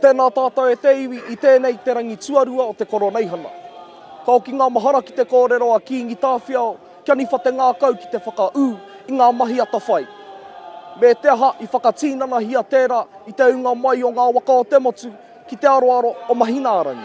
Tēnā tātou e te iwi i tēnei te rangi tuarua o te Koroneihana. Ka oki ngā mahara ki te kōrero a Kīngi Tāwhiao kia niwha te ngākau ki te whakaū i ngā mahi atawhai. Me te aha i whakatīnanahia tērā i te ūnga mai o ngā waka o te motu ki te aroaro o Mahinārangi.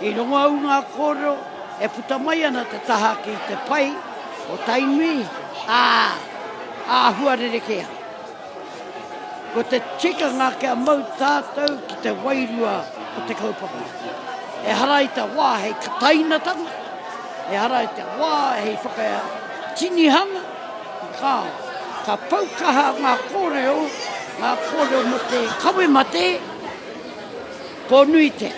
I rongo au ngā kōrero e puta mai ana te taha ki te pai o Tainui, ā, āhua rerekē ana. Ko te tikanga kia mau tātou ki te wairua o te kaupapa, ehara i te wā hei katainatanga, ehara i te wā hei whakatinihanga, kāo, ka pau kaha ngā kōrero, ngā kōrero mō te kawe mate, Ko nui te.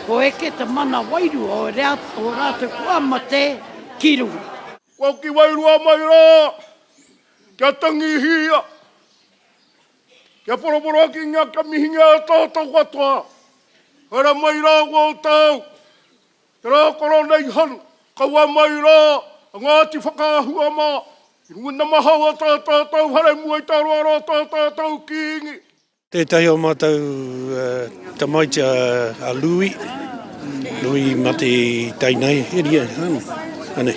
Ko eke te mana wairua o rea o ratou kua mate ki runga. Kua ki wairua mai ra, kia tangihia, kia poroporokingia, kia mihingia e tatou katoa. Haere mai ra koutou, te ra koro nei han, kaua mai ra a Ngati Whakaahua ma, i runga namahau a ta tatou hare mua i te aroaro a ta tatou Kingi. Tētahi o mātou tamaiti a Lui, Lui i mate i Tainai eria, anei,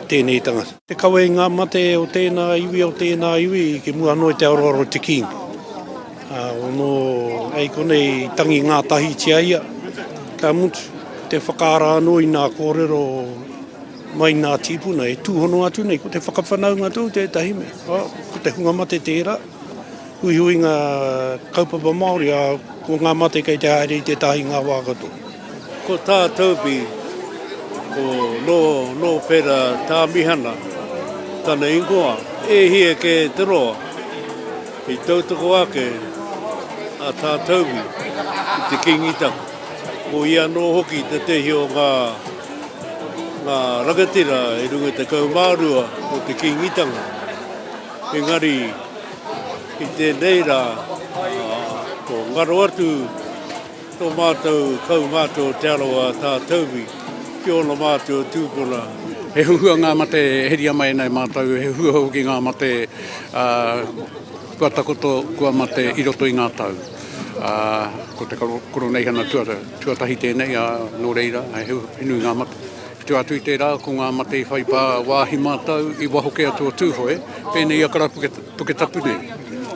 tēnei tangata. Te kawe i ngā mate o tēnā iwi, o tēnā iwi, ki mua noa i te aroaro o te Kīngi. Ono, hei konei i tangi ngātahitia ia, ka mutu, te whakaara anō i ngā kōrero mai i ngā tīpuna e tūhono atu nei, ko te whakawhanaunga tōu tētahi mea, ko te hunga mate tērā. huihuinga kaupapa Māori, ā, ko ngā mate kei te haere i te tahi ngā wā katoa. Ko tā Toby, ko Nōwhera Tāmihana, tana ingoa, e hia kē te roa. I tautoko ake a Tā Toby ki te Kīngi Taku. Ko ia anō hoki tētehi o ngā rangatira e rua tekau mā rua o te Kīngitanga. Engari, i tēnei rā, ko ngaro atu tō mātou kaumātua o Te Arawa a Tātauwi ki ōna mātua tūpuna. He huhua ngā mate e heria mai ana e mātou, he huhua hoki ngā mate kua takoto, kua mate i roto i ngā tau. Ko te Koroneihana tuatahi tēnei, nō reira, he nui ngā mate. Tua atu i tērā, ko ngā mate i whai pā wāhi mātau i waho kē atu o Tūhoe, pēnei i a Karapuketapu nei.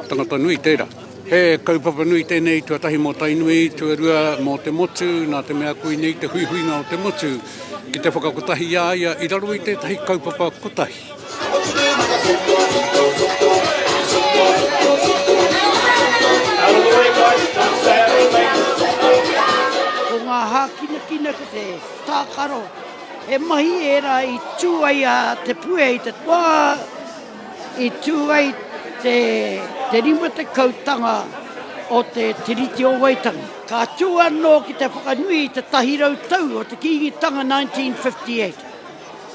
Tangata nui tērā. He kaupapa nui tēnei, tuatahi mō Tainui, tuarua mō te motu, nā te mea koinei te huihuinga o te motu ki te whakakotahi i a ia i raro i tētahi kaupapa kotahi. Tākaro, he mahi ērā i tū ai a Te Puea i te wā i tū ai te 50-tanga o te Tiriti o Waitangi. Ka tū anō ki te whakanui i te tahi rau tau o te Kīngitanga 1958.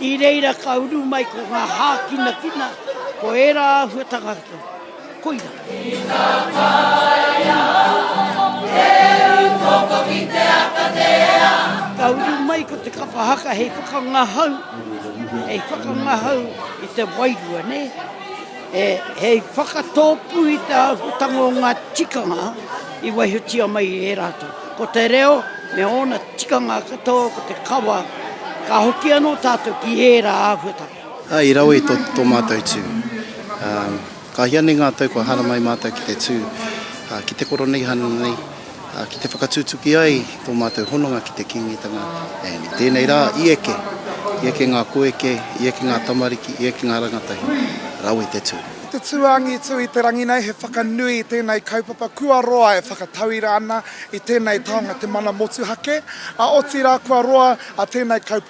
I reira ka uru mai ko ngā hākinakina, ko ērā āhuatanga katoa. Koira. I ta taea he uru koko ki te aka tea. Ka uru mai ko te kapa haka hei whakangahau, hei whakangahau i te wairua, ne? E, hei whakatopu i te āhuatanga o ngā tikanga i waihotia mai e rātou. Ko te reo me ōna tikanga katoa ko te kawa, ka hoki anō tātou ki ērā āhuatanga. I rawe tō mātou tū. Ka hia nei ngā tau kua haramai mātou ki te tū, ki te Koroneihana nei, ki te whakatutuki ai tō mātou hononga ki te Kīngitanga. I tēnei rā, i eke, i eke ngā koeke, i eke ngā tamariki, i eke ngā rangatahi, rawe te tū. Ko te tū angitu i te rangi nei he whakanui i tēnei kaupapa kua roa e whakatauira ana i tēnei taonga te mana motuhake, a otirā kua roa a tēnei kaupapa.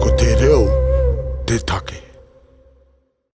Ko te reo te take.